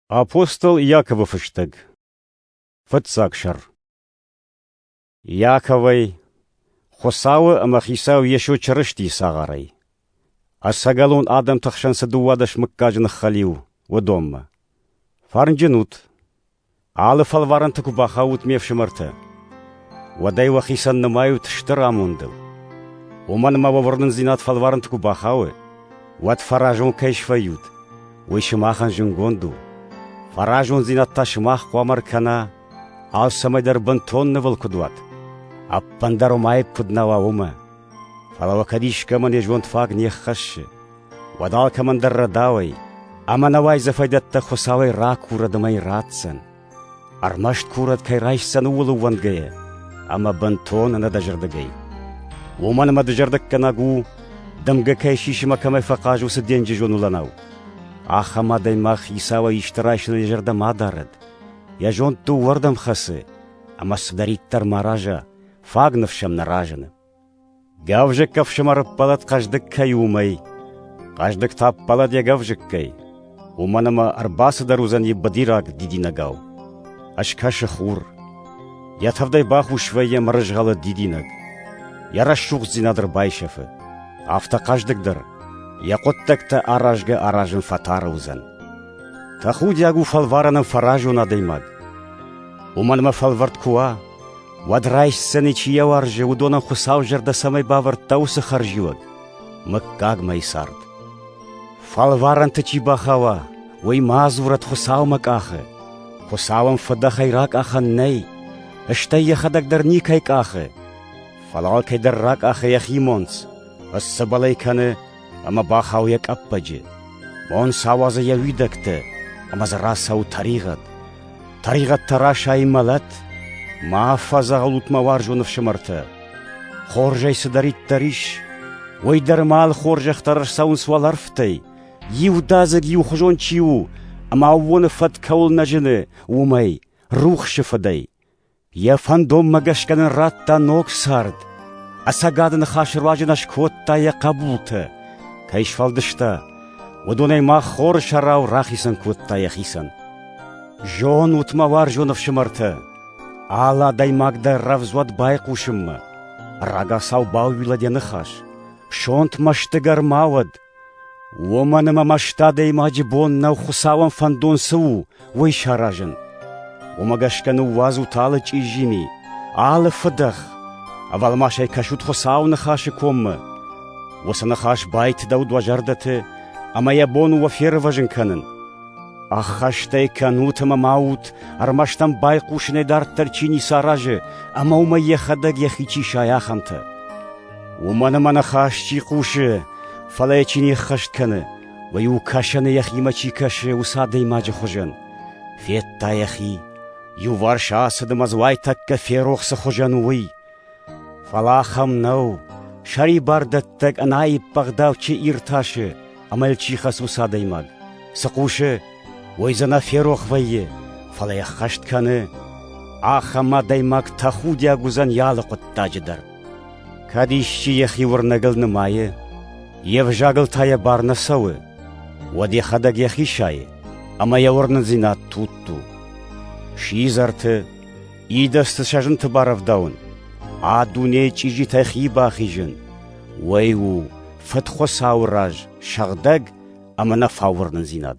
Апостол Иаковы фыстӕг Фыццаг сӕр Иаковӕй, Хуыцауы ӕмӕ Хицау Йесо Чырыстийы цагъарӕй. Ӕцӕгӕлон адӕмты хсӕн цы дыууадӕс мыггаджы ныххӕлиу, уыдонмӕ. Фӕрнджын ут! Алы фӕлварӕнты куы бахаут ме фсымӕртӕ, уӕд ӕй уӕхицӕн нымайут стыр амондыл. Уымӕн ӕмӕ уӕ уырнындзинад фӕлварӕнты куы бахауы, уӕд фӕразон кӕй свӕййут, уый сымахӕн зынгонд у. Фӕразондзинад та сымах хъуамӕ ркӕна, алцӕмӕйдӕр бынтон нывыл куыд уат, ӕппындӕр уым аипп куыд нӕ уа, уымӕ. Фӕлӕ уӕ кӕд искӕмӕ не зонд фаг не ххӕссы, Уӕд алкӕмӕн дӕр рӕдауӕй ӕмӕ науайдзӕфӕйдӕттӕ Хуыцауӕй ракурӕд ӕмӕ йын ратдзӕн, ӕрмӕст курӕд кӕй райсдзӕн ууыл ӕууӕндгӕйӕ ӕмӕ бынтон ӕнӕдӕзӕрдыгӕй. Уымӕн ӕмӕ дызӕрдыггӕнӕг у, дымгӕ кӕй сисы мӕ кӕмӕй фӕхъаз, уыцы денджызон уылӕнау. Ахӕм адӕймаг Хицауӕй исты райсыны йӕ зӕрдӕ ма дарӕд, йӕ зонд дыууӕрдӕм хӕцы, ӕмӕ цыдӕриддӕр ма араза, фаг ныфс сӕм нӕ разыны. Гӕвзыкк ӕфсымӕр ӕппӕлӕд хъӕздыг кӕй у, уымӕй. Хъӕздыг та ӕппӕлӕд йӕ гӕвзыккӕй, уымӕн ӕмӕ ӕрбацыдӕр уыдзӕни быдираг дидинӕгау. Ӕскӕсы хур. Йӕ тӕвдӕй бахус вӕййы мырызгъӕлы дидинӕг. Йӕ рӕсугъддзинад ӕрбайсӕфы. Афтӕ хъӕздыгдӕр, йӕ хъуыддӕгтӕ аразгӕ-аразын фӕтары уыдзӕн. Тӕхудиаг у фӕлварӕнӕн фӕразон адӕймаг. Уымӕн ӕмӕ фӕлвӕрд куы уа, Уӕд райсдзӕни чи йӕ уарзы, уыдонӕн Хуыцау зӕрдӕ цӕмӕй бавӕрдта, уыцы хӕрзиуӕг — мыггагмӕйы цард. Фӕлварӕнты чи бахауа, уый ма дзурӕд Хуыцаумӕ къахы. Хуыцауӕн фыдӕхӕй ракъахӕн нӕй, стӕй йӕхӕдӕг дӕр никӕй къахы. Фӕлӕ алкӕйдӕр ракъахы йӕхи монц, ысцыбӕлӕй кӕны ӕмӕ бахауы йӕ къӕппӕджы. Бон сауадзы йӕ уидӕгтӕ ӕмӕ дзы рацӕуы тӕригъӕд. Тӕригъӕд та расайы мӕлӕт. Ма афӕдзӕгъӕлут мӕ уарзон ӕфсымӕртӕ! Хорзӕй цыдӕриддӕр ис, уый дӕр ма алы хорзӕхтӕ ӕрцӕуынц уӕлӕрвтӕй, иудадзыг иухуызон чи у ӕмӕ аууоны фӕд кӕуыл нӕ зыны, уымӕй, рухсы фыдӕй. Йӕ фӕндонмӕ гӕсгӕ нын радта ног цард. Ӕцӕгады ныхасы руаджы нӕ скодта йӕ хъӕбултӕ. Кӕй сфӕлдыста, уыдонӕй мах хоры сӕрау рахицӕн кодта йӕхицӕн. Зонут мӕ уарзон ӕфсымӕртӕ, алы адӕймаг дӕр рӕвдз уӕд байхъусынмӕ. Рагацау бауилӕд йӕ ныхас, сонт мӕсты гӕр ма уӕд, Уомӕн ӕма ма сты адӕймаджи бон нӕу Хуцауӕн фӕндон цы у, уой саразын. Уомӕ гӕсгӕ ниууадзут алы чъиззими, алы фидӕх, ӕвӕлмасӕй кӕсут Хуцауы Ныхасы коммӕ. Уыцы ныхас байтыдӕуд уӕ зӕрдӕты ӕмӕ йӕ бон у уӕ фервӕзын кӕнын. Ӕххӕстӕй кӕнут ӕмӕ ма ут, ӕрмӕст ӕм байхъусынӕй дарддӕр чи ницы аразы ӕмӕ уымӕй йӕхӕдӕг йӕхи чи сайы, ахӕмтӕ. Уымӕн ӕмӕ нӕ хӕс чи хъусы, фӕлӕ йӕ чи не ххӕст кӕны, уый у кӕсӕны йӕхимӕ чи кӕсы, уыцы адӕймаджы хуызӕн. Федта йӕхи, иуварс ацыд ӕмӕ дзы уайтӕккӕ ферох цы хуызӕн у, уый. Фӕлӕ ахӕм нӕу, сӕрибардӕттӕг ӕнаиппӕгъдау чи иртасы ӕмӕ йыл чи хӕцы уыцы адӕймаг. Цы хъусы, уый дзы нӕ ферох вӕййы, фӕлӕ йӕ ххӕст кӕны. Ахӕм адӕймаг тӕхудиаг уыдзӕн йӕ алы хъуыддаджы дӕр. Кӕд исчи йӕхи уырнӕгыл нымайы, йе взагыл та йӕ бар нӕ цӕуы, уӕд йӕхӕдӕг йӕхи сайы, ӕмӕ йӕ уырнындзинад тутт у. Сидзӕрты, идӕдзты сӕ зынты барӕвдауын, а дунейы чъизитӕй хи бахизын, уый у Фыдхуыцауы раз сыгъдӕг ӕмӕ нӕ фауырнындзинад.